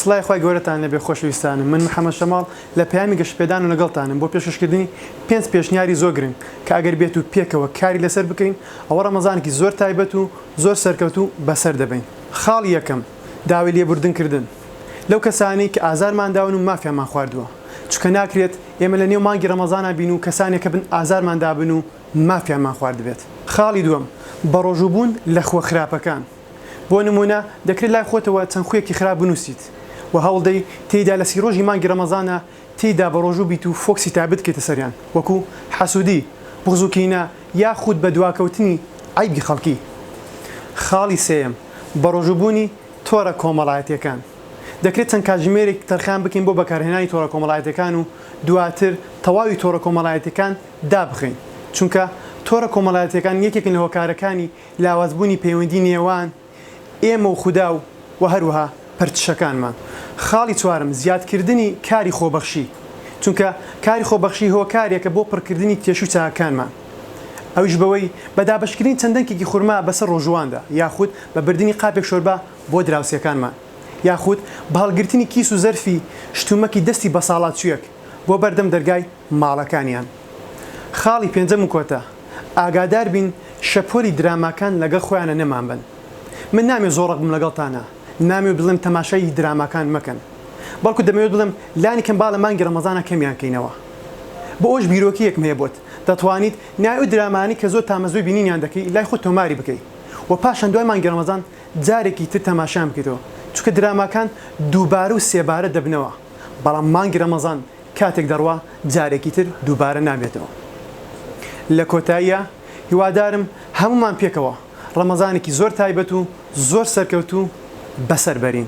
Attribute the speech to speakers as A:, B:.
A: سڵای خی گەورەتان لەبێ خۆشویستانم من محەممە شەماڵ لە پامی گەشتپێدان و لەگەڵتانم بۆ پێششکردنی پێنج پێشنیاری زۆر گرنگ کە ئەگەر بێت و پێکەوە کاری لەسەر بکەین ئەوە ڕەمەزانێکی زۆر تایبەت و زۆر سەرکەوتوو بەسەر دەبەین. خاڵی یەکەم، داوای لێبوردن کردن لەو کەسانەی کە ئازارمان داون و مافیانمان خواردووە، چونکە ناکرێت ئێمە لە نێو مانگی ڕەمەزانا بین و کەسانێک هەبن ئازارمان دابن و مافیانمان خواردبێت. خاڵی دووەم، بەڕۆژوو بوون لە خووە خراپەکان. بۆ نموونە دەکرێت لای خۆتەوە چەند خوویەکی خراپ بنووسیت و هەوڵدەی تێیدا لە سی ڕۆژی مانگی ڕەمەزانا، تیدا بەڕۆژوو بیت و فۆکسی تایبەت بکەیتە سەریان وەکو، حەسودی، بوغز و کینە، یاخود بەدواکەوتنی عەیبی خەڵکی. خاڵی سێیەم، بەڕۆژووبوونی تۆڕە کۆمەڵایەتییەکان. دەکرێت چەند کاتژمێرێک تەرخان بکەین بۆ بەکارهێنانی تۆڕە کۆمەڵایەتییەکان و دواتر تەواوی تۆڕە کۆمەڵایەتییەکان دابخەین، چونکە تۆڕە کۆمەڵایەتییەکان یەکێکن لە هۆکارەکانی لاوازبوونی پەیوەندی نێوان ئێمە و خودا و و هەروەها پەرچشەکانمان. خاڵی چوارەم، زیادکردنی کاری خۆبەخشی، چونکە کاری خۆبەخشی هۆکارێکە بۆ پڕکردنی کێشو چاکەکانمان، ئەویش بەوەی بە دابەشکردنی چەند دەنکێکی خورما بەسەر ڕۆژوواندا، یاخود بە بردنی قاپێک شۆربا بۆ دراوسێکانمان، یاخود بە هەڵگرتنی کیس و زەرفی شتومەکی دەستی بەساڵاچووێک بۆ بەردەم دەرگای. ماڵەکانیان. خاڵی پێنجەم و کۆتا، ئاگادار بین شەپۆلی دراماکان لەگەڵ خۆیانە نەمان بەن. من نامەوێت زۆر ڕەق بم لەگەڵتانا، نامەوێت بڵێم تەماشای دراماکان مەکەن، بەڵکو دەمەوێت بڵێم لانی کەم با لە مانگی ڕەمەزانا کەمیان کەینەوە. بۆ ئەوەش بیرۆکەیەکم هەیە بۆت، دەتوانیت ناوی ئەو درامانەی کە زۆر تامەزرۆی بینینیان دەکەی لای خۆت تۆماری بکەی و پاشان دوای مانگی ڕەمەزان جارێکی تر تەماشایان بکەیتەوە، چونکە دراماکان دووبارە و سێبارە دەبنەوە، بەڵام مانگی ڕەمەزان کاتێک دەڕوا جارێکی تر دووبارە نابێتەوە لە کۆتاییا هیوادارم هەموومان پێکەوە ڕەمەزانێکی زۆر تایبەت و زۆر سەرکەوتوو بەسەر بەرین.